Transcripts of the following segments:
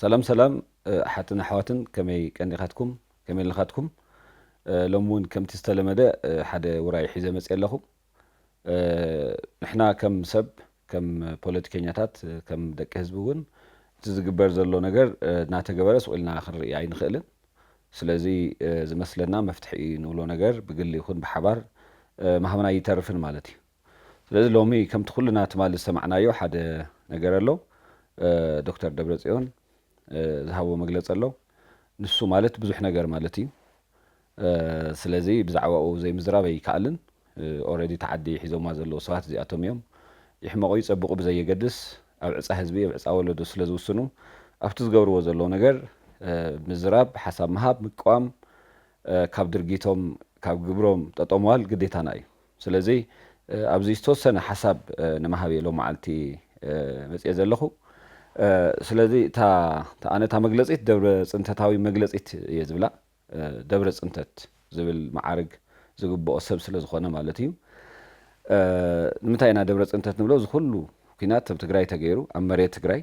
ሰላም ሰላም ኣሓትን ኣሕዋትን ከመይ ቀኒኻትኩም ከመይ ኣለኻትኩም ሎሚ እውን ከምቲ ዝተለመደ ሓደ ውራይ ሒዘ መፅእ ኣለኹ ንሕና ከም ሰብ ከም ፖለቲከኛታት ከም ደቂ ህዝቢ እውን እቲ ዝግበር ዘሎ ነገር እናተገበረ ስቕ ኢልና ክንርኢ ኣይንኽእልን። ስለዚ ዝመስለና መፍትሒ እዩ ንብሎ ነገር ብግሊ ይኹን ብሓባር ምሃብና ኣይተርፍን ማለት እዩ። ስለዚ ሎሚ ከምቲ ኩልና ትማሊ ዝሰማዕናዮ ሓደ ነገር ኣሎ። ዶክተር ደብረጽዮን ዝሃቦ መግለጺ ኣሎ። ንሱ ማለት ብዙሕ ነገር ማለት እዩ። ስለዚ ብዛዕባኡ ዘይምዝራብ ኣይከኣልን። Already እታ ዓዲ ሒዞማ ዘለዉ ሰባት እዚኣቶም እዮም። ይሕመቑ ይጸብቑ ብዘየገድስ ኣብ ዕጻ ህዝቢ ኣብ ዕጻ ወለዶ ስለ ዝውስኑ ኣብቲ ዝገብርዎ ዘለዉ ነገር ምዝራብ ሓሳብ ምሃብ ምቅዋም ካብ ድርጊቶም ካብ ግብሮም ጠጠው ምባል ግዴታና እዩ። ስለዚ ኣብዚ ዝተወሰነ ሓሳብ ንምሃብ እየ ሎምዓልቲ መጺኤ ዘለኹ። ስለዚ እታ ኣነ እታ መግለጺት ደብረጽንተታዊ መግለጺት እየ ዝብላ። ደብረ ፅንተት ዝብል መዓርግ ዝግበኦ ሰብ ስለ ዝኾነ ማለት እዩ። ንምንታይ ኢና ደብረ ፅንተት ንብሎ? እዚ ኩሉ ኲናት ኣብ ትግራይ ተገይሩ፣ ኣብ መሬት ትግራይ።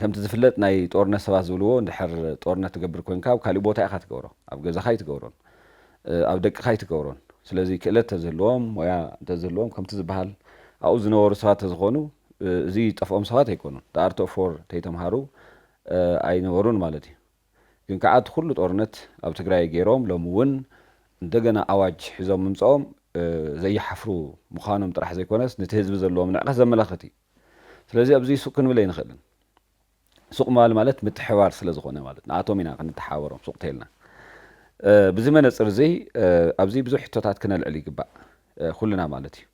ከምቲ ዝፍለጥ ናይ ጦርነት ሰባት ዝብልዎ እንድሕር ጦርነት ትገብር ኮይንካ ኣብ ካሊእ ቦታ ኢኻ ትገብሮ። ኣብ ገዛኻ ኣይትገብሮን። ኣብ ደቅኻ ኣይትገብሮን። ስለዚ ክእለት ተዝህልዎም፣ ሞያ እንተዝህልዎም ከምቲ ዝበሃል ኣብኡ ዝነበሩ ሰባት ተዝኾኑ እዚ ጠፍኦም ሰባት ኣይኮኑን። The Art of War ተይተምሃሩ ኣይነበሩን ማለት እዩ። ግን ከኣ እቲ ኩሉ ጦርነት ኣብ ትግራይ ጌሮም ሎሚ ውን እንደገና ኣዋጅ ሒዞም ምምጸኦም ዘይሓፍሩ ምኻኖም ጥራሕ ዘይኮነስ ንቲ ህዝቢ ዘለዎም ንዕቀት ዘመላኽት እዩ ስለዚ ኣብዚ ሱቅ ክንብል ኣይንኽእልን ሱቅ ምባል ማለት ምትሕብባር ስለ ዝኾነ ማለት ንኣቶም ኢና ክንተሓባበሮም ሱቅ ተይልና ብዚ መነጽር እዚ ኣብዚ ብዙሕ ሕቶታት ክነልዕል ይግባእ ኩልና ማለት እዩ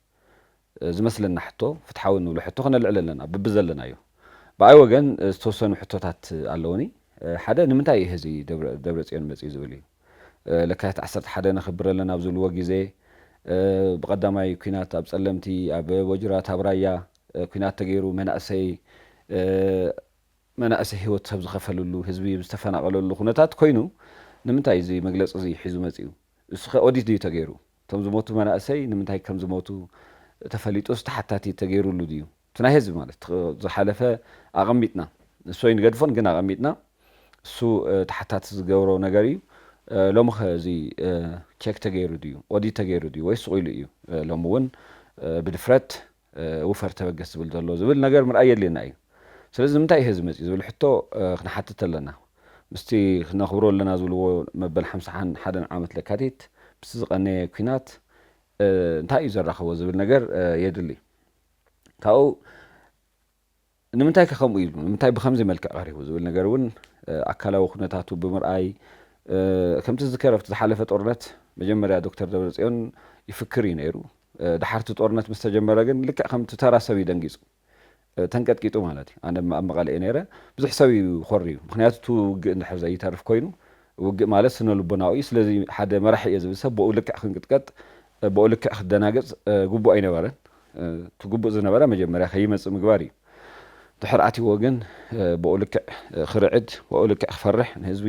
ዝመስለና ሕቶ ፍትሓዊ እንብሎ ሕቶ ክነልዕል ኣለና ብብዘለናዮ። ብኣይ ወገን ዝተወሰኑ ሕቶታት ኣለዉኒ። ሓደ ንምንታይ እዩ ህዚ ደብረጽዮን መጽዩ ዝብል እዩ። ለካቲት ዓሰርተ ሓደ ነኽብር ኣለና ኣብ ዝብልዎ ግዜ ብቐዳማይ ኩናት ኣብ ጸለምቲ ኣብ ወጅራት ኣብ ራያ ኩናት ተገይሩ መናእሰይ መናእሰይ ህይወት ሰብ ዝኸፈልሉ ህዝቢ ዝተፈናቐለሉ ኩነታት ኮይኑ ንምንታይ እዚ መግለጺ እዚ ሒዙ መጽዩ? እሱኸ ኦዲት ድዩ ተገይሩ? እቶም ዝሞቱ መናእሰይ ንምንታይ ከም ዝሞቱ ተፈሊጡስ ተሓታቲ ተገይሩሉ ድዩ? እቲ ናይ ህዝቢ ማለት እቲ ዝሓለፈ ኣቐሚጥና ንሱ ኣይንገድፎን ግን ኣቐሚጥና እሱ ተሓታቲ ዝገብሮ ነገር እዩ። ሎምኸ እዚ ቼክ ተገይሩ ድዩ? ኦዲት ተገይሩ ድዩ? ወይስ ስቑኢሉ እዩ? ሎሚ እውን ብድፍረት ውፈር ተበገስ ዝብል ዘሎ ዝብል ነገር ምርኣይ የድልየና እዩ። ስለዚ ንምንታይ እዩ ሀዚ መፂኡ ዝብል ሕቶ ክንሓትት ኣለና። ምስቲ ክነኽብሮ ኣለና ዝብልዎ መበል ሓምሳን ሓደን ዓመት ለካቲት ምስቲ ዝቐነየ ኩናት እንታይ እዩ ዘራኸቦ ዝብል ነገር የድሊ። ካብኡ ንምንታይከ ከምኡ ኢሉ? ንምንታይ ብኸምዚ መልክዕ ቀሪቡ? ዝብል ነገር እውን ኣካላዊ ኩነታቱ ብምርኣይ፣ ከምቲ ዝዝከር ኣብቲ ዝሓለፈ ጦርነት መጀመርያ ዶክተር ደብረጽዮን ይፍክር እዩ ነይሩ። ደሓር እቲ ጦርነት ምስ ተጀመረ ግን ልክዕ ከምቲ ተራ ሰብ እዩ ደንጊጹ። ተንቀጥቂጡ ማለት እዩ። ኣነ ኣብ መቐለ እየ ነይረ። ብዙሕ ሰብ እዩ ኾርዩ። ምኽንያቱ እቲ ውግእ እንድሕር ዘይተርፍ ኮይኑ፣ ውግእ ማለት ስነ-ልቦናዊ እዩ። ስለዚ ሓደ መራሒ እየ ዝብል ሰብ ብኡ ልክዕ ክንቅጥቀጥ ብኡ ልክዕ ክትደናገጽ ግቡእ ኣይነበረን። እቲ ግቡእ ዝነበረ መጀመርያ ከይመጽእ ምግባር ኢዩ። ድሕር ኣትይዎ ግን ብኡ ልክዕ ክርዕድ፣ ብኡ ልክዕ ክፈርሕ፣ ንህዝቢ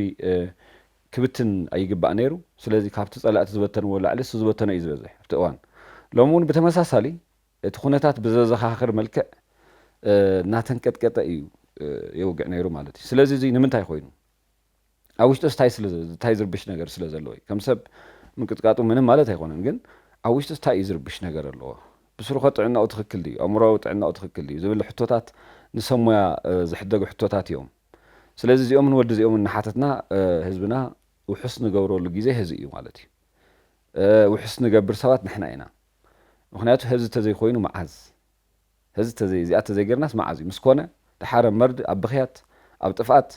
ክብትን ኣይግባእ ነይሩ። ስለዚ ካብቲ ጸላእቲ ዝበተንዎ ላዕሊ እሱ ዝበተኖ ኢዩ ዝበዝሕ ኣብቲ እዋን። ሎሚ እውን ብተመሳሳሊ እቲ ኩነታት ብዘዘኻኽር መልክዕ እናተንቀጥቀጠ ኢዩ የውግዕ ነይሩ ማለት ኢዩ። ስለዚ እዚ ንምንታይ ኮይኑ? ኣብ ውሽጡስ ታይ ስለ ታይ ዝርብሽ ነገር ስለ ዘለዎ እዩ ከም ሰብ ምንቅጥቃጡ ምንም ማለት ኣይኮነን ግን ኣብ ውሽጡስ ታይ እዩ ዝርብሽ ነገር ኣለዎ ብስሩኸ ጥዕናኡ ትኽክል ድዩ ኣእምሮኣዊ ጥዕናኡ ትኽክል ድዩ ዝብል ሕቶታት ንሰብ ሞያ ዝሕደጉ ሕቶታት እዮም ስለዚ እዚኦምን ወዲ እዚኦምን እናሓተትና ህዝብና ውሑስ ንገብረሉ ግዜ ህዚ እዩ ማለት እዩ ውሑስ ንገብር ሰባት ንሕና ኢና ምክንያቱ ህዚ ተዘይኮይኑ መዓዝ ህዚ ተዘይ እዚኣ ተዘይገርናስ መዓዝ እዩ ምስ ኮነ ድሓረ መርድ ኣብ ብኽያት ኣብ ጥፍኣት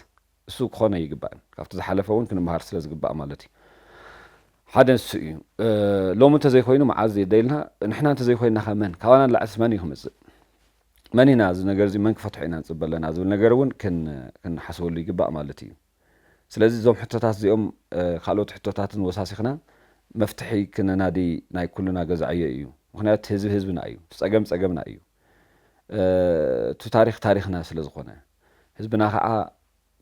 እሱ ክኾን ኣይግባእን ካብቲ ዝሓለፈ ውን ክንመሃር ስለ ዝግባእ ማለት እዩ ሓደ ንሱ እዩ ሎሚ እንተዘይኮይኑ መዓዝ የደይልና ንሕና እንተዘይኮይናኸ መን ካባና ንላዕልስ መን እዩ ክምፅእ መን ኢና እዚ ነገር እዚ መን ክፈትሖ ኢና ንፅበ ኣለና ዝብል ነገር እውን ክንሓስበሉ ይግባእ ማለት እዩ ስለዚ እዞም ሕቶታት እዚኦም ካልኦት ሕቶታትን ወሳሲኽና መፍትሒ ክነናዲ ናይ ኩሉና ገዛ ዕዮ እዩ ምክንያቱ ህዝቢ ህዝብና እዩ እቲ ፀገም ፀገምና እዩ እቲ ታሪክ ታሪክና ስለ ዝኾነ ህዝብና ከኣ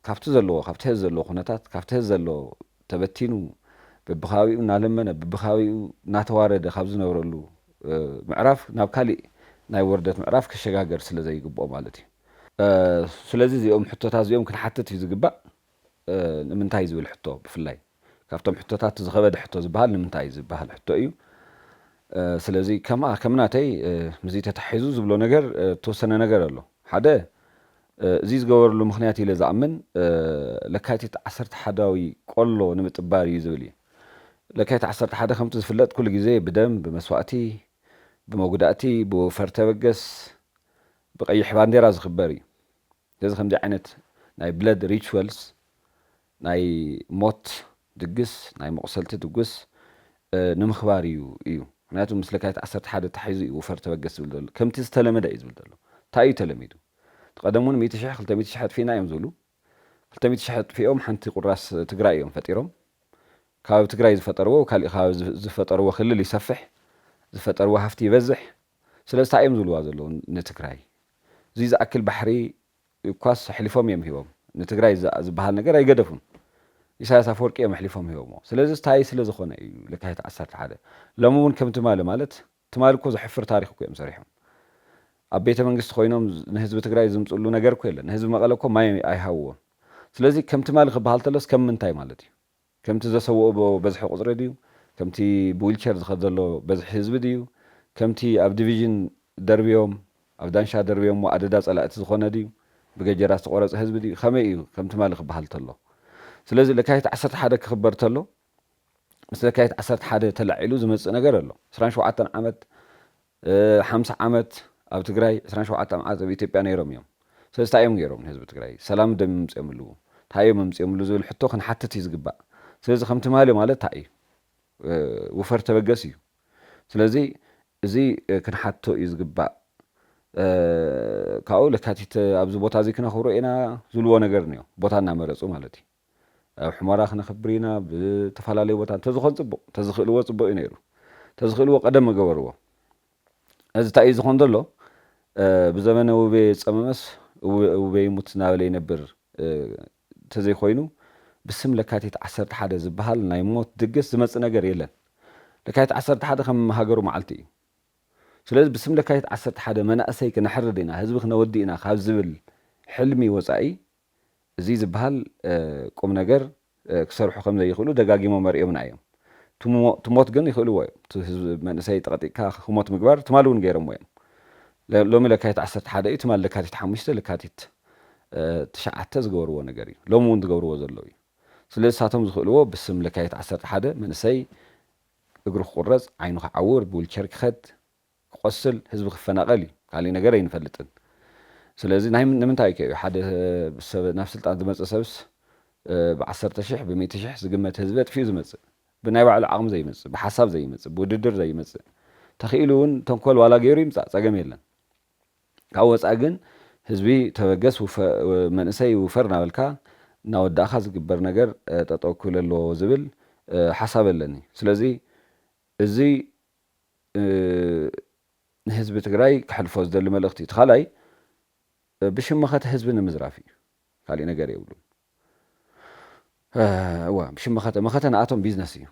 ካብቲ ዘለዎ ካብቲ ሐዚ ዘለዎ ኩነታት ካብቲ ሐዚ ዘለዎ ተበቲኑ በብከባቢኡ እናለመነ በብከባቢኡ እናተዋረደ ካብ ዝነብረሉ ምዕራፍ ናብ ካሊእ ናይ ወርደት ምዕራፍ ክሸጋገር ስለዘይግብኦ ማለት እዩ። ስለዚ እዚኦም ሕቶታት እዚኦም ክንሓትት እዩ ዝግባእ። ንምንታይ ዝብል ሕቶ ብፍላይ ካብቶም ሕቶታት እቲ ዝኸበደ ሕቶ ዝበሃል ንምንታይ ዝበሃል ሕቶ እዩ። ስለዚ ከምኣ ከም ናተይ ምስዚ ተተሓሒዙ ዝብሎ ነገር እተወሰነ ነገር ኣሎ። ሓደ እዚ ዝገበርሉ ምኽንያት ኢለ ዝኣምን ለካቲት ዓሰርተ ሓዳዊ ቆሎ ንምጥባር እዩ ዝብል እየ። ለካቲት ዓሰርተ ሓደ ከምቲ ዝፍለጥ ኩሉ ግዜ ብደም፣ ብመስዋእቲ፣ ብመጉዳእቲ፣ ብወፈር ተበገስ፣ ብቀይሕ ባንዴራ ዝኽበር እዩ። ስለዚ ከምዚ ዓይነት ናይ ብለድ ሪችወልስ ናይ ሞት ድግስ ናይ መቑሰልቲ ድግስ ንምኽባር እዩ እዩ ምኽንያቱ ምስ ለካየት ዓሰርተ ሓደ ተታሒዙ እዩ ውፈር ተበገስ ዝብል ዘሎ ከምቲ ዝተለመደ እዩ ዝብል ዘሎ ታይ እዩ ተለሚዱ እቲ ቀደም እውን ሚእቲ ሽሕ ክልተ ሚእቲ ሽሕ ኣጥፊእና እዮም ዝብሉ ክልተ ሚእቲ ሽሕ ኣጥፊኦም ሓንቲ ቁራስ ትግራይ እዮም ፈጢሮም ከባቢ ትግራይ ዝፈጠርዎ ኣብ ካሊእ ከባቢ ዝፈጠርዎ ክልል ይሰፍሕ ዝፈጠርዎ ሃፍቲ ይበዝሕ ስለዚ ታይ እዮም ዝብልዋ ዘለዉ ንትግራይ እዙይ ዝኣክል ባሕሪ እኳስ ኣሕሊፎም እዮም ሂቦም ንትግራይ ዝበሃል ነገር ኣይገደፉን ኢሳያስ ኣፈወርቂ እዮም ኣሕሊፎም ሂቦምዎ ስለዚ ታይ ስለዝኾነ እዩ ለካቲት ዓሰርተ ሓደ ሎሚ እውን ከም ትማሊ ማለት ትማሊ እኮ ዘሕፍር ታሪኽ እኮ እዮም ሰሪሖም ኣብ ቤተ መንግስቲ ኮይኖም ንህዝቢ ትግራይ ዝምፅሉ ነገር እኮ የለን ንህዝቢ መቐለ እኮ ማይ ኣይሃብዎን ስለዚ ከም ትማሊ ክበሃል ተሎስ ከም ምንታይ ማለት እዩ ከምቲ ዘሰውኦ ብ በዝሒ ቁጽሪ ድዩ ከምቲ ብዊልቸር ዝኸድ ዘሎ በዝሒ ህዝቢ ድዩ ከምቲ ኣብ ድቪዥን ደርብዮም ኣብ ዳንሻ ደርብዮሞ ኣደዳ ጸላእቲ ዝኾነ ድዩ ብገጀራ ዝተቆረጸ ህዝቢ ድዩ ከመይ ኢዩ ከም ትማሊ ክበሃል ተሎ ስለዚ ለካቲት ዓሰርተ ሓደ ክኽበር ተሎ ምስ ለካቲት ዓሰርተ ሓደ ተላዒሉ ዝመጽእ ነገር ኣሎ ዕስራን ሸውዓተን ዓመት ሓምሳ ዓመት ኣብ ትግራይ ዕስራን ሸውዓተ መዓልት ኣብ ኢትዮጵያ ነይሮም እዮም ስለዚ ታይ እዮም ገይሮም ንህዝቢ ትግራይ ሰላም ዶ ምምፅዮምሉ ታይ እዮም ኣምፅዮምሉ ዝብል ሕቶ ክንሓትት እዩ ዝግባእ ስለዚ ከም ትማሊ ማለት ታይ እዩ ውፈር ተበገስ እዩ ስለዚ እዚ ክንሓትቶ እዩ ዝግባእ ካብኡ ለካቲት ኣብዚ ቦታ እዚ ክነኽብሮ ኢና ዝብልዎ ነገር እኒኦ ቦታ እናመረፁ ማለት እዩ። ኣብ ሑመራ ክነኽብር ኢና ብ ተፋላለዩ ቦታ እንተዝኾን ጽቡቅ ተዝኽእልዎ ጽቡቅ እዩ ነይሩ ተዝኽእልዎ ቀደም ምገበርዎ እዚ ታይ እዩ ዝኾን ዘሎ ብዘበነ ውቤ ዝጸመመስ ውቤ ይሙት ናበለ ይነብር ተዘይኮይኑ ብስም ለካቲት ዓሰርተ ሓደ ዝብሃል ናይ ሞት ድግስ ዝመጽእ ነገር የለን ለካቲት ዓሰርተ ሓደ ከም ሃገሩ መዓልቲ እዩ ስለዚ ብስም ለካቲት ዓሰርተ ሓደ መናእሰይ ክነሕርድ ኢና ህዝቢ ክነወድእ ኢና ካብ ዝብል ሕልሚ ወጻኢ እዙይ ዝብሃል ቁም ነገር ክሰርሑ ከም ዘይኽእሉ ደጋጊሞም ኣርእዮምና እዮም። ትሞት ግን ይኽእልዎ እዮም። እቲ ህዝቢ መንእሰይ ጠቕጢቕካ ክሞት ምግባር ትማሊ እውን ገይሮምዎ እዮም። ሎሚ ለካቲት ዓሰርተ ሓደ እዩ፣ ትማሊ ለካቲት ሓሙሽተ፣ ለካቲት ትሽዓተ ዝገበርዎ ነገር እዩ። ሎሚ እውን ዝገብርዎ ዘለዉ እዩ። ስለዚ ንሳቶም ዝኽእልዎ ብስም ለካቲት ዓሰርተ ሓደ መንእሰይ እግሩ ክቑረፅ፣ ዓይኑ ክዓውር፣ ብዊልቸር ክኸድ፣ ክቆስል ህዝቢ ክፈናቀል እዩ ካሊእ ነገር ኣይንፈልጥን ስለዚ ናይ ንምንታይ ከ እዩ ሓደ ሰብ ናብ ስልጣን ዝመጽእ ሰብስ ብዓሰርተ ሽሕ ብሚእቲ ሽሕ ዝግመት ህዝቢ ኣጥፊኡ ዝመጽእ ብናይ ባዕሉ ዓቅሚ ዘይመጽእ ብሓሳብ ዘይመጽእ ብውድድር ዘይመጽእ ተኪኢሉ እውን ተንኮል ዋላ ገይሩ ይምጻእ ጸገም የለን ካብኡ ወጻኢ ግን ህዝቢ ተበገስ መንእሰይ ውፈር እናበልካ እናወዳእካ ዝግበር ነገር ጠጠው ክብል ኣለዎ ዝብል ሓሳብ ኣለኒ ስለዚ እዚ ንህዝቢ ትግራይ ክሕልፎ ዝደሊ መልእኽቲ እቲ ካልኣይ ብሽም መኸተ ህዝቢ ንምዝራፍ እዩ ካሊእ ነገር የብሉን እዋ ብሽም መኸተ መኸተ ንኣቶም ቢዝነስ እዩ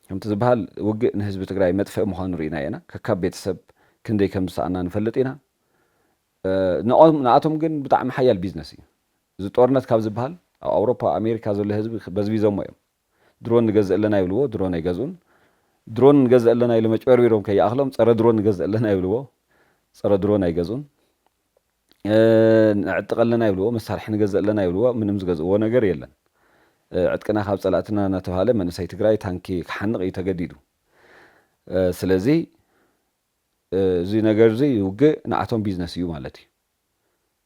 ከምቲ ዝበሃል ውግእ ንህዝቢ ትግራይ መጥፍኢ ምዃኑ ርኢና ኢና ከካብ ቤተሰብ ክንደይ ከም ዝሰኣና ንፈልጥ ኢና ንኣቶም ግን ብጣዕሚ ሓያል ቢዝነስ እዩ እዚ ጦርነት ካብ ዝበሃል ኣብ ኣውሮፓ ኣሜሪካ ዘሎ ህዝቢ በዝቢዞሞ እዮም ድሮን ንገዝእ ኣለና ይብልዎ ድሮን ኣይገዝኡን ድሮን ንገዝእ ኣለና ኢሎም ኣጭበርቢሮም ከይኣኽሎም ፀረ ድሮን ንገዝእ ኣለና ይብልዎ ፀረ ድሮን ኣይገዝኡን ንዕጥቅ ኣለና ይብልዎ መሳርሒ ንገዝእ ኣለና ይብልዎ ምንም ዝገዝእዎ ነገር የለን ዕጥቅና ካብ ፀላእትና እናተባሃለ መንእሰይ ትግራይ ታንኪ ክሓንቕ እዩ ተገዲዱ ስለዚ እዚ ነገር እዚ ውግእ ንኣቶም ቢዝነስ እዩ ማለት እዩ።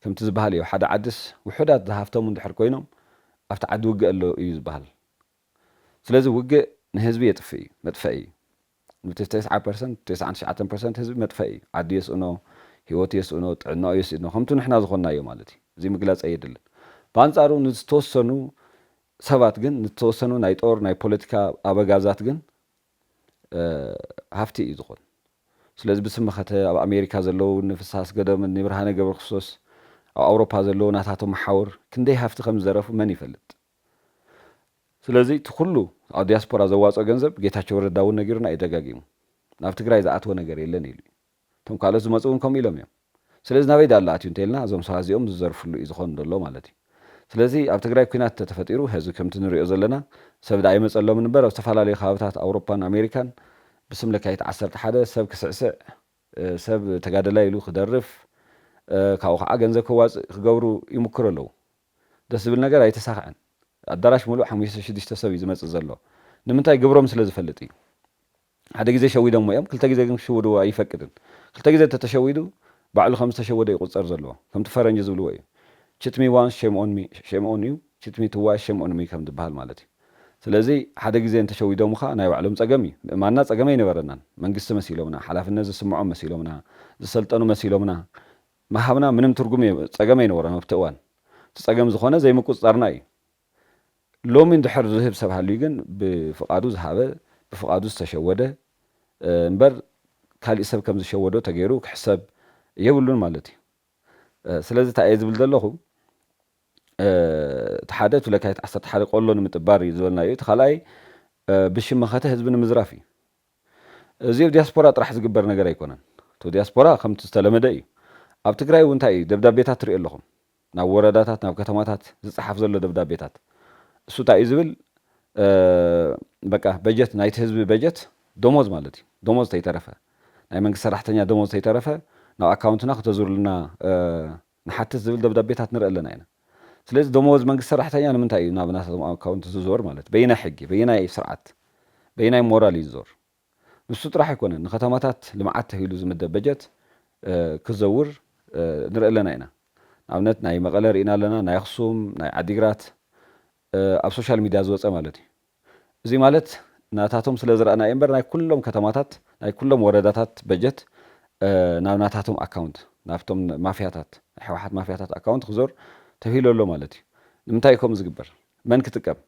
ከምቲ ዝበሃል እዩ ኣብ ሓደ ዓድስ ውሑዳት ዝሃፍተሙ እንድሕር ኮይኖም ኣብቲ ዓዲ ውግእ ኣሎ እዩ ዝበሃል። ስለዚ ውግእ ንህዝቢ የጥፍእ እዩ፣ መጥፈኢ እዩ። ንቲ ተስዓ ፐርሰንት፣ ተስዓን ትሽዓተን ፐርሰንት ህዝቢ መጥፈኢ እዩ። ዓዱ የስእኖ፣ ህይወቱ የስእኖ፣ ጥዕናኡ የስእኖ፣ ከምቱ ንሕና ዝኾንናዮ ማለት እዩ። እዚ ምግላጽ ኣየድልን። ብኣንጻሩ ንዝተወሰኑ ሰባት ግን ንዝተወሰኑ ናይ ጦር ናይ ፖለቲካ ኣበጋዛት ግን ሃፍቲ እዩ ዝኾን ስለዚ ብስም መኸተ ኣብ ኣሜሪካ ዘለዉ እኒ ፍስሃ ኣስገዶም እኒ ብርሃነ ገብረክርስቶስ ኣብ ኣውሮፓ ዘለዉ ናታቶም መሓውር ክንደይ ሃፍቲ ከም ዝዘረፉ መን ይፈልጥ ስለዚ እቲ ኩሉ ኣብ ዲያስፖራ ዘዋፅኦ ገንዘብ ጌታቸው ረዳ እውን ነጊሩና እዩ ደጋጊሙ ናብ ትግራይ ዝኣተወ ነገር የለን ኢሉ እዩ። እቶም ካልኦት ዝመጹ ውን ከምኡ ኢሎም እዮም ስለዚ ናበይ ዳኣ ኣሎ ኣትዩ እንተልና እዞም ሰባት እዚኦም ዝዘርፍሉ እዩ ዝኮን ደሎ ማለት እዩ ስለዚ ኣብ ትግራይ ኩናት እንተተፈጢሩ ሀዚ ከምቲ ንሪኦ ዘለና ሰብ ዳኣ ኣይመጸሎምን እምበር ኣብ ዝተፈላለዩ ከባብታት ኣውሮፓን ኣሜሪካን ብስም ለካይት ዓሰርተ ሓደ ሰብ ክስዕስዕ ሰብ ተጋደላይ ኢሉ ክደርፍ ካብኡ ካዓ ገንዘብ ከዋጽእ ክገብሩ ይሙክሩ ኣለው ደስ ዝብል ነገር ኣይተሳከዐን ኣዳራሽ ሙሉእ ሓሙሽተ ሽዱሽተ ሰብ እዩ ዝመጽእ ዘሎ ንምንታይ ግብሮም ስለ ዝፈልጥ እዩ ሓደ ግዜ ሸዊዶሞ እዮም ክልተ ግዜ ግን ክሽውድዎ ኣይፈቅድን ክልተ ግዜ እንተተሸዊዱ ባዕሉ ከም ዝተሸወደ እዩ ክቁጸር ዘለዎ ከምቲ ፈረንጂ ዝብልዎ እዩ ችት ሚ ዋንስ ሼም ኦን ሚ ሼም ኦን ዩ ችት ሚ ትዋይስ ሼም ኦን ሚ ከም ዝብሃል ማለት እዩ ስለዚ ሓደ ግዜ እንተሸዊዶምኻ ናይ ባዕሎም ጸገም እዩ ምእማንና ጸገም ኣይነበረናን መንግስቲ መሲሎምና ሓላፍነት ዝስምዖም መሲሎምና ዝሰልጠኑ መሲሎምና ምሃብና ምንም ትርጉም ጸገም ኣይነበሮን ኣብቲ እዋን እቲ ጸገም ዝኾነ ዘይምቁጽጻርና እዩ ሎሚ እንድሕር ዝህብ ሰብ ሃልዩ ግን ብፍቓዱ ዝሃበ ብፍቓዱ ዝተሸወደ እምበር ካሊእ ሰብ ከም ዝሸወዶ ተገይሩ ክሕሰብ የብሉን ማለት እዩ። ስለዚ ታይ እየ ዝብል ዘለኹ እቲ ሓደ እቲ ለካቲት ዓሰርተ ሓደ ቆሎ ንምጥባር እዩ ዝበልናዮ እቲ ካልኣይ ብሽም መኸተ ህዝቢ ንምዝራፍ እዩ። እዚ ኣብ ዲያስፖራ ጥራሕ ዝግበር ነገር ኣይኮነን። እቲ ዲያስፖራ ከምቲ ዝተለመደ እዩ። ኣብ ትግራይ እውን ታይ እዩ ደብዳቤታት ትሪኡ ኣለኹም። ናብ ወረዳታት ናብ ከተማታት ዝጸሓፍ ዘሎ ደብዳቤታት እሱ ታይ እዩ ዝብል በቃ በጀት ናይቲ ህዝቢ በጀት ዶሞዝ ማለት እዩ ዶሞዝ ተይተረፈ ናይ መንግስቲ ሰራሕተኛ ዶሞዝ ተይተረፈ ናብ ኣካውንትና ክተዙርልና ንሓትት ዝብል ደብዳቤታት ንርኢ ኣለና ኢና ስለዚ ዶሞዝ መንግስቲ ሰራሕተኛ ንምንታይ እዩ ናብ ናታቶም ኣካውንት ዝዞር ማለት በየናይ ሕጊ በየናይ ስርዓት በየናይ ሞራል እዩ ዝዞር ንሱ ጥራሕ ኣይኮነን ንከተማታት ልምዓት ተሂሉ ዝምደብ በጀት ክዘውር ንርኢ ኣለና ኢና ንኣብነት ናይ መቐለ ሪኢና ኣለና ናይ ኣክሱም ናይ ዓዲግራት ኣብ ሶሻል ሚድያ ዝወፀ ማለት እዩ እዙይ ማለት ናታቶም ስለ ዝረኣና እዩ እምበር ናይ ኩሎም ከተማታት ናይ ኩሎም ወረዳታት በጀት ናብ ናታቶም ኣካውንት ናብቶም ማፍያታት ናይ ህወሓት ማፍያታት ኣካውንት ክዞር ተሂሉ ኣሎ ማለት እዩ ንምንታይ እዩ ከምኡ ዝግበር መን ክጥቀም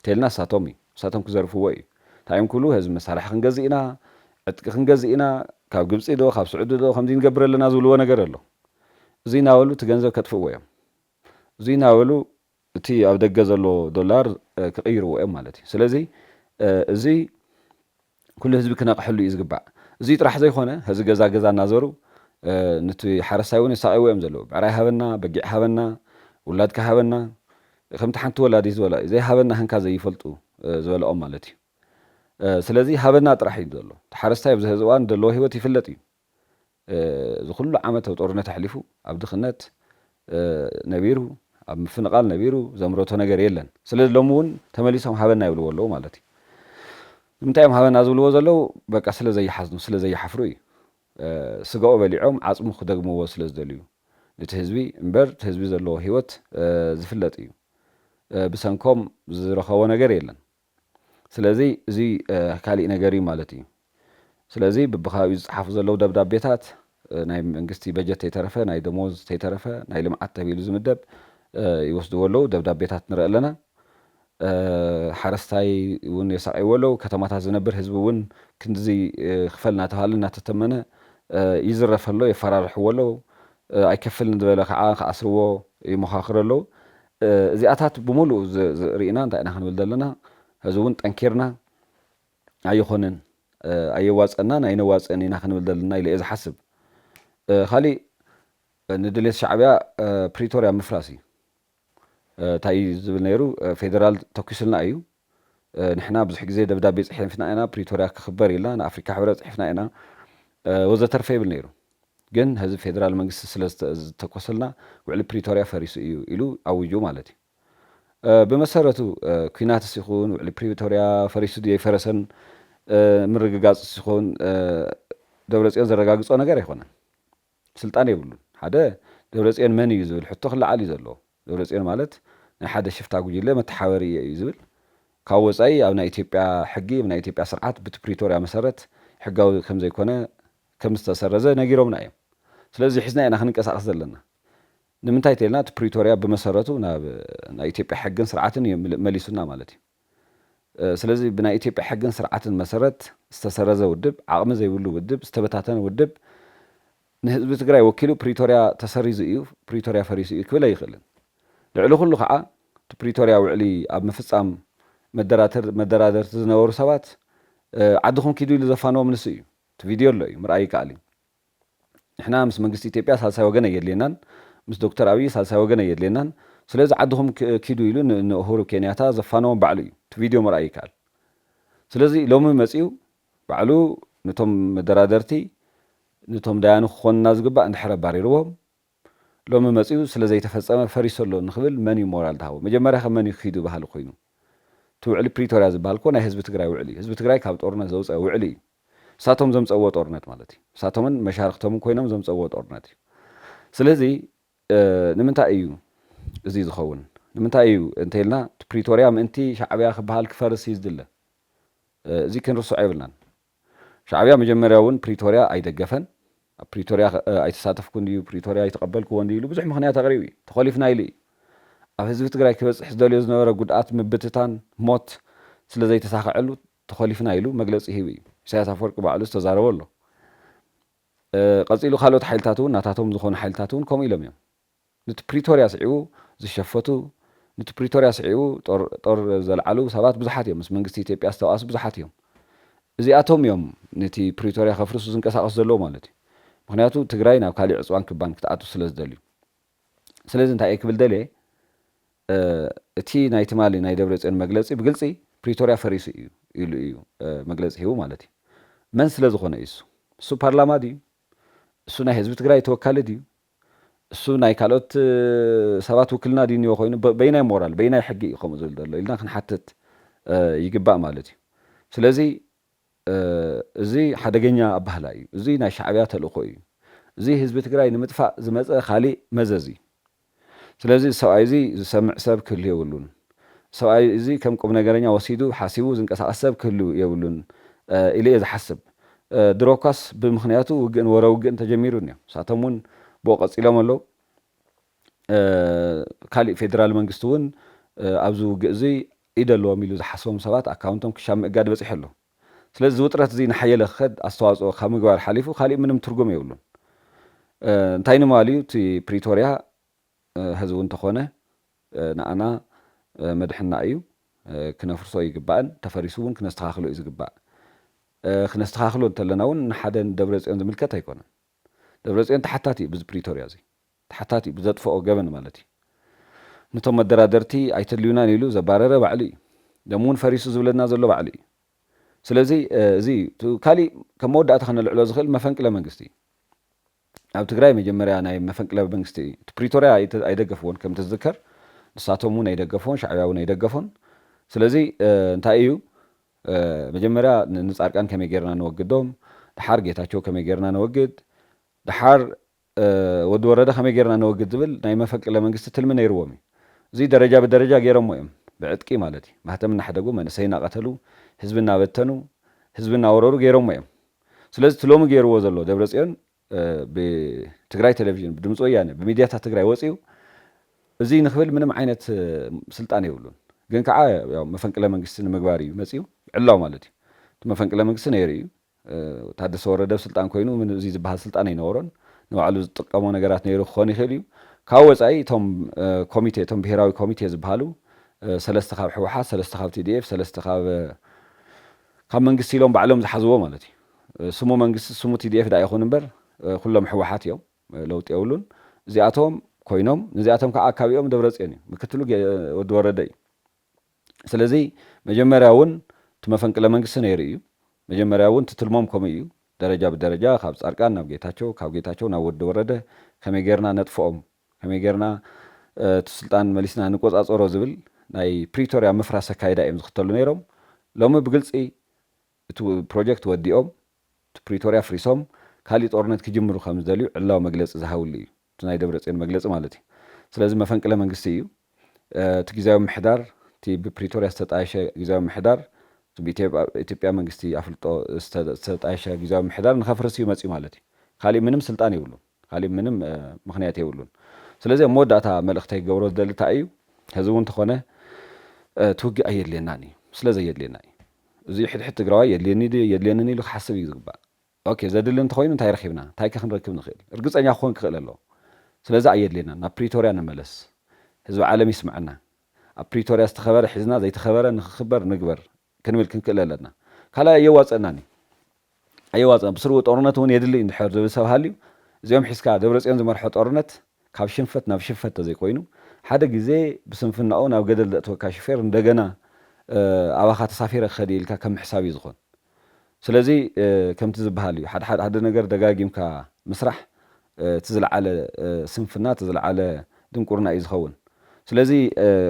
ቴልና ንሳቶም እዩ ንሳቶም ክዘርፍዎ እዩ እንታይ እዮም ክብሉ ህዝቢ መሳርሒ ክንገዝእ ኢና ዕጥቂ ክንገዝእ ኢና ካብ ግብጺ ዶ ካብ ስዑዲ ዶ ከምዚ ንገብር ኣለና ዝብልዎ ነገር ኣሎ እዙይ ናበሉ እቲ ገንዘብ ከጥፍእዎ እዮም እዙይ ናበሉ እቲ ኣብ ደገ ዘሎ ዶላር ክቕይርዎ እዮም ማለት እዩ ስለዚ እዙይ ኩሉ ህዝቢ ክነቕሐሉ እዩ ዝግባእ። እዙይ ጥራሕ ዘይኾነ ሀዚ ገዛ ገዛ እናዘሩ ኑቲ ሓረስታይ እውን የሳቕይዎ እዮም ዘለዉ። ብዕራይ ሃበና፣ በጊዕ ሃበና፣ ውላድካ ሃበና ከምቲ ሓንቲ ወላዲት ዝበላ እዩ ዘይሃበና ህንካ ዘይፈልጡ ዝበለኦም ማለት እዩ። ስለዚ ሃበና ጥራሕ እዩ ዘሎ። እቲ ሓረስታይ ኣብዚ ሀዚ እዋን ዘለዎ ህይወት ይፍለጥ እዩ። እዚ ኩሉ ዓመት ኣብ ጦርነት ኣሕሊፉ ኣብ ድኽነት ነቢሩ ኣብ ምፍንቓል ነቢሩ ዘምረቶ ነገር የለን ስለዚ ሎሚ እውን ተመሊሶም ሃበና ይብልዎ ኣለዉ ማለት እዩ ንምንታይ እዮም ሃበና ዝብልዎ ዘለዉ በቃ ስለ ዘይሓዝኑ ስለ ዘይሓፍሩ እዩ ስጋኡ በሊዖም ዓጽሙ ክደግምዎ ስለ ዝደልዩ ነቲ ህዝቢ እምበር እቲ ህዝቢ ዘለዎ ህይወት ዝፍለጥ እዩ ብሰንኮም ዝረኸቦ ነገር የለን ስለዚ እዚ ካሊእ ነገር እዩ ማለት እዩ። ስለዚ ብብከባቢኡ ዝፀሓፉ ዘለዉ ደብዳቤታት ናይ መንግስቲ በጀት ተይተረፈ ናይ ደሞዝ ተይተረፈ ናይ ልምዓት ተብሂሉ ዝምደብ ይወስድዎ ኣለዉ። ደብዳቤታት ንርኢ ኣለና። ሓረስታይ እውን የሳቕይዎ ኣለዉ። ከተማታት ዝነብር ህዝቢ እውን ክንድዚ ክፈል እናተብሃለ እናተተመነ ይዝረፍ ኣሎ፣ የፈራርሕዎ ኣለዉ። ኣይከፍልን ዝበለ ከዓ ክኣስርዎ ይሞኻኽሩ ኣለዉ። እዚኣታት ብምሉኡ ርኢና እንታይ ኢና ክንብል ዘለና፣ ሕዚ እውን ጠንኪርና ኣይኾነን፣ ኣየዋጽኣናን ኣይነዋጽእን ኢና ክንብል ዘለና ኢለ እየ ዝሓስብ። ካሊእ ንድሌት ሻዕቢያ ፕሪቶርያ ምፍራስ እዩ። እንታይ እዩ ዝብል ነይሩ፣ ፌደራል ተኲሱልና እዩ፣ ንሕና ብዙሕ ግዜ ደብዳቤ ጽሒፍና ኢና፣ ፕሪቶርያ ክኽበር ኢልና ንኣፍሪካ ሕብረት ጽሒፍና ኢና ወዘተርፈ ይብል ነይሩ። ግን ህዝቢ ፌደራል መንግስቲ ስለ ዝተኮሰልና ውዕሊ ፕሪቶርያ ፈሪሱ እዩ ኢሉ ኣዊጁ ማለት እዩ። ብመሰረቱ ኩናትስ ይኹን ውዕሊ ፕሪቶርያ ፈሪሱ ድዩ ኣይፈረሰን ምርግጋጽስ ይኹን ደብረጽዮን ዘረጋግጾ ነገር ኣይኮነን። ስልጣን የብሉን ሓደ ደብረፅዮን መን እዩ ዝብል ሕቶ ክለዓል እዩ ዘለዎ ደብረፅዮን ማለት ናይ ሓደ ሽፍታ ጉጅለ መተሓበሪ እየ እዩ ዝብል ካብ ወፃኢ ኣብ ናይ ኢትዮጵያ ሕጊ ኣብ ናይ ኢትዮጵያ ስርዓት ብቲ ፕሪቶርያ መሰረት ሕጋዊ ከምዘይኮነ ከምዝተሰረዘ ነጊሮምና እዮም ስለዚ ሒዝናዮ ኢና ክንንቀሳቀስ ዘለና ንምንታይ ተይልና እቲ ፕሪቶርያ ብመሰረቱ ናብ ናይ ኢትዮጵያ ሕግን ስርዓትን እዩ መሊሱና ማለት እዩ። ስለዚ ብናይ ኢትዮጵያ ሕግን ስርዓትን መሰረት ዝተሰረዘ ውድብ፣ ዓቕሚ ዘይብሉ ውድብ፣ ዝተበታተነ ውድብ ንህዝቢ ትግራይ ወኪሉ ፕሪቶርያ ተሰሪዙ እዩ፣ ፕሪቶርያ ፈሪሱ እዩ ክብል ኣይኽእልን። ልዕሊ ኩሉ ከዓ እቲ ፕሪቶርያ ውዕሊ ኣብ ምፍፃም መደራደርቲ ዝነበሩ ሰባት ዓድኹም ኪዱ ኢሉ ዘፋነዎም ንሱ እዩ። እቲ ቪድዮ ኣሎ እዩ፣ ምርኣይ ይከኣል እዩ። ንሕና ምስ መንግስቲ ኢትዮጵያ ሳልሳይ ወገን ኣየድልየናን፣ ምስ ዶክተር ኣብይ ሳልሳይ ወገን ኣየድልየናን፣ ስለዚ ዓድኹም ኪዱ ኢሉ ንኡሁሩ ኬንያታ ዘፋነዎም ባዕሉ እዩ፣ እቲ ቪድዮ ምርኣይ ይከኣል። ስለዚ ሎሚ መፂኡ ባዕሉ ንቶም መደራደርቲ ንቶም ዳያኑ ክኾኑና ዝግባእ እንድሕር ኣባሪርዎም፣ ሎሚ መጺኡ ስለ ዘይተፈጸመ ፈሪሱ ኣሎ ንኽብል መን እዩ ሞራል ዝሃቦ? መጀመርያኸ መን እዩ ኪዱ በሃሊ ኮይኑ? እቲ ውዕሊ ፕሪቶርያ ዝበሃል እኮ ናይ ህዝቢ ትግራይ ውዕሊ እዩ። ህዝቢ ትግራይ ካብ ጦርነት ዘውጸ ውዕሊ እዩ። ንሳቶም ዘምጸእዎ ጦርነት ማለት እዩ። ንሳቶምን መሻርኽቶምን ኮይኖም ዘምጸእዎ ጦርነት እዩ። ስለዚ ንምንታይ እዩ እዚ ዝኸውን? ንምንታይ እዩ እንተይልና እቲ ፕሪቶርያ ምእንቲ ሻዕብያ ክበሃል ክፈርስ እዩ ዝድለ? እዚ ክንርስዖ የብልናን። ሻዕብያ መጀመርያ እውን ፕሪቶርያ ኣይደገፈን፣ ኣብ ፕሪቶርያ ኣይተሳተፍኩን እዩ፣ ፕሪቶርያ ኣይተቐበልክዎን እዩ ኢሉ ብዙሕ ምኽንያት ኣቕሪቡ እዩ። ተኾሊፍና ኢሉ እዩ። ኣብ ህዝቢ ትግራይ ክበፅሕ ዝደልዮ ዝነበረ ጉድኣት፣ ምብትታን፣ ሞት ስለ ዘይተሳኸዐሉ ተኾሊፍና ኢሉ መግለፂ ሂቡ እዩ። ኢሳያስ ኣፈወርቂ ባዕሉ ዝተዛረቦ ኣሎ። ቐፂሉ ካልኦት ሓይልታት እውን ናታቶም ዝኾኑ ሓይልታት እውን ከምኡ ኢሎም እዮም። ኑቲ ፕሪቶርያ ስዒቡ ዝሸፈቱ፣ ኑቲ ፕሪቶርያ ስዒቡ ጦር ዘልዓሉ ሰባት ብዙሓት እዮም፣ ምስ መንግስቲ ኢትዮጵያ ዝተባኣሱ ብዙሓት እዮም። እዚኣቶም እዮም ነቲ ፕሪቶርያ ከፍርሱ ዝንቀሳቐሱ ዘለዉ ማለት እዩ። ምኽንያቱ ትግራይ ናብ ካሊእ ዕፅዋን ክባን ክትኣቱ ስለዝደልዩ። ስለዚ እንታይ እየ ክብል ደልየ እቲ ናይ ትማሊ ናይ ደብረፅዮን መግለፂ ብግልፂ ፕሪቶርያ ፈሪሱ እዩ ኢሉ እዩ መግለፂ ሂቡ ማለት እዩ። መን ስለዝኾነ እዩ እሱ? እሱ ፓርላማ ድዩ? እሱ ናይ ህዝቢ ትግራይ ተወካሊ ድዩ? እሱ ናይ ካልኦት ሰባት ውክልና ድዩ እኒኦ ኮይኑ በይናይ ሞራል በይናይ ሕጊ እዩ ከምኡ ዝብል ዘሎ ኢልና ክንሓትት ይግባእ ማለት እዩ። ስለዚ እዚ ሓደገኛ ኣባህላ እዩ። እዚ ናይ ሻዕቢያ ተልእኮ እዩ። እዚ ህዝቢ ትግራይ ንምጥፋእ ዝመፀ ካሊእ መዘዝ እዩ። ስለዚ እዚ ሰብኣይ እዚ ዝሰምዕ ሰብ ክህሉ የብሉን። ሰብኣይ እዚ ከም ቁምነገረኛ ወሲዱ ሓሲቡ ዝንቀሳቐስ ሰብ ክህሉ የብሉን ኢለ'የ ዝሓስብ። ድሮ'ኳስ ብምኽንያቱ ውግእን ወረ ውግእን ተጀሚሩንዮ። ንሳቶም'ውን ብኡ ቀጺሎም ኣለዉ። ካሊእ ፌደራል መንግስቲ'ውን ኣብዚ ውግእ'ዙይ ኢድ ኣለዎም ኢሉ ዝሓስቦም ሰባት ኣካውንቶም ክሻብ ምእጋድ በጺሑ ኣሎ። ስለዚ እዚ ውጥረት'ዙይ እናሓየለ ክኸድ ኣስተዋጽኦ ካብ ምግባር ሓሊፉ ካሊእ ምንም ትርጉም የብሉን። እንታይ ንምባል'ዩ እቲ ፕሪቶርያ ሀዝውን እንተኾነ ንኣና መድሕንና እዩ ክነፍርሶ ኣይግባእን ተፈሪሱ እውን ክነስተኻኽሎ እዩ ዝግባእ ክነስተኻኽሎ እንተለና እውን ንሓደ ንደብረፅዮን ዝምልከት ኣይኮነን ደብረፅዮን ተሓታቲ እዩ ብዚ ፕሪቶርያ እዚ ተሓታቲ እዩ ብዘጥፈኦ ገበን ማለት እዩ ንቶም መደራደርቲ ኣይተድልዩናን ኢሉ ዘባረረ ባዕሉ እዩ ደም እውን ፈሪሱ ዝብለና ዘሎ ባዕሉ እዩ ስለዚ እዚ እዩ ካሊእ ከም መወዳእታ ክነልዕሎ ዝኽእል መፈንቅለ መንግስቲ እዩ ኣብ ትግራይ መጀመርያ ናይ መፈንቅለ መንግስቲ እቲ ፕሪቶርያ ኣይደገፍዎን ከምቲ ዝዝከር ንሳቶም ውን ኣይደገፍዎን ሻዕብያ ውን ኣይደገፎን ስለዚ እንታይ ኢዩ መጀመርያ ንጻድቃን ከመይ ጌርና ነወግዶም ደሓር ጌታቸው ከመይ ጌርና ነወግድ ደሓር ወዲ ወረደ ከመይ ጌርና ነወግድ ዝብል ናይ መፈንቅለ መንግስቲ ትልሚ ነይርዎም ኢዩ እዚ ደረጃ ብደረጃ ጌሮሞ ኢዮም ብዕጥቂ ማለት ኢዩ ማህተም እናሕደጉ መንእሰይ እናቀተሉ ህዝቢ እናበተኑ ህዝቢ እናወረሩ ጌሮሞ ኢዮም ስለዚ እቲ ሎሚ ገይርዎ ዘሎ ደብረፅዮን ብትግራይ ቴሌቪዥን፣ ብድምፂ ወያነ፣ ብሚድያታት ትግራይ ወፂኡ እዙይ ንክብል ምንም ዓይነት ስልጣን የብሉን። ግን ከዓ ያው መፈንቅለ መንግስቲ ንምግባር እዩ መፂኡ ዕላው ማለት እዩ። እቲ መፈንቅለ መንግስቲ ነይሩ እዩ። ታደሰ ወረደ ኣብ ስልጣን ኮይኑ ምን እዙይ ዝበሃል ስልጣን ኣይነበሮን። ንባዕሉ ዝጥቀሞ ነገራት ነይሩ ክኾን ይኽእል እዩ። ካብኡ ወፃኢ እቶም ኮሚቴ እቶም ብሄራዊ ኮሚቴ ዝበሃሉ ሰለስተ ካብ ህወሓት፣ ሰለስተ ካብ ቲዲኤፍ፣ ሰለስተ ካብ ካብ መንግስቲ ኢሎም ባዕሎም ዝሓዝዎ ማለት እዩ ስሙ መንግስቲ ስሙ TDF ድኣ ይኹን እምበር ኩሎም ሕወሓት እዮም ለውጢ የብሉን እዚኣቶም ኮይኖም ነዚኣቶም ካዓ ኣካቢኦም ደብረፅዮን እዩ ምክትሉ ወዲ ወረደ እዩ ስለዚ መጀመርያ እውን እቲ መፈንቅለ መንግስቲ ነይሩ እዩ መጀመርያ እውን እቲ ትልሞም ከምኡ እዩ ደረጃ ብደረጃ ካብ ፃድቃን ናብ ጌታቸው ካብ ጌታቸው ናብ ወዲ ወረደ ከመይ ገይርና ነጥፍኦም ከመይ ጌርና እቲ ስልጣን መሊስና ንቆጻጸሮ ዝብል ናይ ፕሪቶርያ ምፍራስ ኣካይዳ እዮም ዝኽተሉ ነይሮም። ሎሚ ብግልጺ እቲ ፕሮጀክት ወዲኦም እቲ ፕሪቶርያ ኣፍሪሶም ካሊእ ጦርነት ክጅምሩ ከም ዝደልዩ ዕላዊ መግለጺ ዝሃብሉ እዩ። እቲ ናይ ደብረጽዮን መግለጺ ማለት እዩ። ስለዚ መፈንቅለ መንግስቲ እዩ። እቲ ግዝያዊ ምምሕዳር እቲ ብፕሪቶርያ ዝተጣየሸ ግዝያዊ ምምሕዳር እቲ ብኢትዮጵያ መንግስቲ ኣፍልጦ ዝተጣየሸ ግዝያዊ ምምሕዳር ንኸፍርስ እዩ መጺኡ ማለት እዩ። ካሊእ ምንም ስልጣን የብሉን። ካሊእ ምንም ምኽንያት የብሉን ስለዚ ኣብ መወዳእታ መልእኽተይ ክገብሮ ዝደሊ ታይ እዩ ሀዚ እውን ተኾነ እቲ ውግእ ኣየድልየናን እዩ ስለ ዘየድልየና እዩ እዙይ ሕድሕድ ትግራዋይ የድልየኒ ድዩ የድልየንን ኢሉ ክሓስብ እዩ ዝግባእ ኦኬ ዘድሊ እንተኾይኑ እንታይ ረኺብና እንታይ ከ ክንረክብ ንኽእል እርግፀኛ ክኾን ክኽእል ኣለዎ ስለዚ ኣየድልየናን ናብ ፕሪቶርያ ንመለስ ህዝቢ ዓለም ይስምዐና ኣብ ፕሪቶርያ ዝተኸበረ ሒዝና ዘይተኸበረ ንኽኽበር ንግበር ክንብል ክንክእል ኣለና። ካልኣይ ኣየዋጽኣናን እዩ። ኣየዋጽኣን ብስሩ ጦርነት እውን የድሊ እዩ እንድሕር ዝብል ሰብ ሃልዩ እዚኦም ሒዝካ ደብረጽዮን ዝመርሖ ጦርነት ካብ ሽንፈት ናብ ሽንፈት ተዘይኮይኑ ሓደ ግዜ ብስንፍናኡ ናብ ገደል ዘእትወካ ሹፌር እንደገና ኣባኻ ተሳፊረ ክኸድ እየ ኢልካ ከም ምሕሳብ እዩ ዝኾን። ስለዚ ከምቲ ዝብሃል እዩ ሓደሓደ ነገር ደጋጊምካ ምስራሕ እቲ ዝልዓለ ስንፍና እቲ ዝልዓለ ድንቁርና እዩ ዝኸውን ስለዚ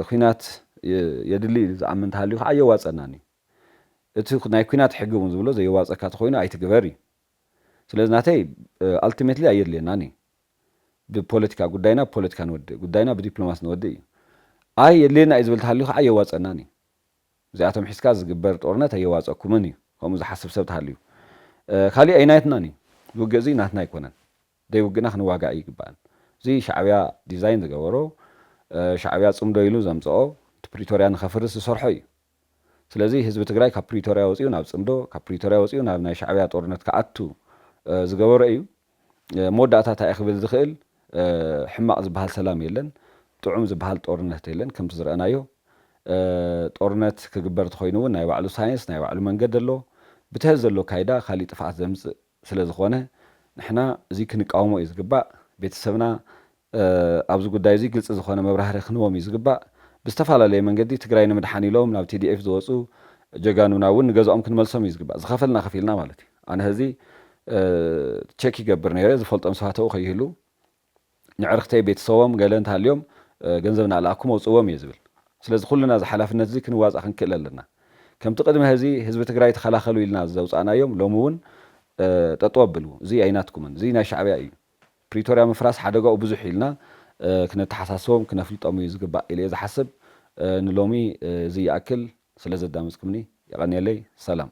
ኹናት የድሊ ኢሉ ዝኣምን እንተሃልዩ ኸዓ ኣየዋፀእናን እዩ እቲ ናይ ኹናት ሕጊ እውን ዝብሎ ዘየዋፀካ ተኾይኑ ኣይትግበር እዩ ስለዚ ናተይ ኣልቲሜትሊ ኣየድልየናን እዩ ብፖለቲካ ጉዳይና ብፖለቲካ ንወድእ ጉዳይና ብዲፕሎማሲ ንወድእ እዩ ኣይ የድልየና እዩ ዝብል ተሃልዩ ኸዓ ኣየዋፀእናን እዩ እዚኣቶም ሒዝካ ዝግበር ጦርነት ኣየዋጸኩምን እዩ ከምኡ ዝሓስብ ሰብ ተሃልዩ ካሊእ ኣይናትናን እዩ ዝውግእ እዚ ናትና ኣይኮነን ደይ ውግእና ክንዋጋእ ኣይግባእን እዚ ሻዕብያ ዲዛይን ዝገበሮ ሻዕብያ ጽምዶ ኢሉ ዘምጸኦ እቲ ፕሪቶርያ ንኸፍርስ ዝሰርሖ እዩ ስለዚ ህዝቢ ትግራይ ካብ ፕሪቶርያ ወጺኡ ናብ ጽምዶ ካብ ፕሪቶርያ ወጺኡ ናብ ናይ ሻዕብያ ጦርነት ክኣቱ ዝገበሮ እዩ መወዳእታ ታይ'የ ክብል ዝኽእል? ሕማቕ ዝበሃል ሰላም የለን፣ ጥዑም ዝበሃል ጦርነት የለን፣ ከምቲ ዝረኣናዮ ጦርነት ክግበር ተኾይኑ ውን ናይ ባዕሉ ሳይንስ ናይ ባዕሉ መንገዲ ኣሎ፣ ብትሀዚ ዘሎ ኣካይዳ ካሊእ ጥፍኣት ዘምጽእ ስለዝኾነ ንሕና እዚ ክንቃወሞ እዩ ዝግባእ፣ ቤተሰብና ኣብዚ ጉዳይ እዚ ግልፂ ዝኾነ መብራህርሂ ክንህቦም እዩ ዝግባእ። ብዝተፈላለየ መንገዲ ትግራይ ንምድሓን ኢሎም ናብ TDF ዝወፁ ጀጋኑና እውን ንገዛኦም ክንመልሶም እዩ ዝግባእ። ዝኸፈልና ከፊልና ማለት እዩ። ኣነ ሀዚ ቼክ ይገብር ነይረ ዝፈልጦም ሰባት ኣብኡ ከይህልው ንዕርክተይ ቤተሰቦም ገለ እንተሃልዮም ገንዘብ እናለኣኩ መውፅእዎም እየ ዝብል። ስለዚ ኩልና እዚ ሓላፍነት እዚ ክንዋፃእ ክንክእል ኣለና። ከምቲ ቅድሚ ሀዚ ህዝቢ ትግራይ ተኸላኸሉ ኢልና ዘውፃእናዮም ሎሚ እውን ጠጠው ኣብሉ እዙይ ኣይናትኩምን እዙይ ናይ ሻዕቢያ እዩ። ፕሪቶርያ ምፍራስ ሓደጋኡ ብዙሕ ኢልና ክነተሓሳስቦም ክነፍልጦም እዩ ዝግባእ ኢለየ ዝሓስብ ንሎሚ እዚ ይኣክል ስለ ዘዳመፅኩምኒ የቀንየለይ ሰላም።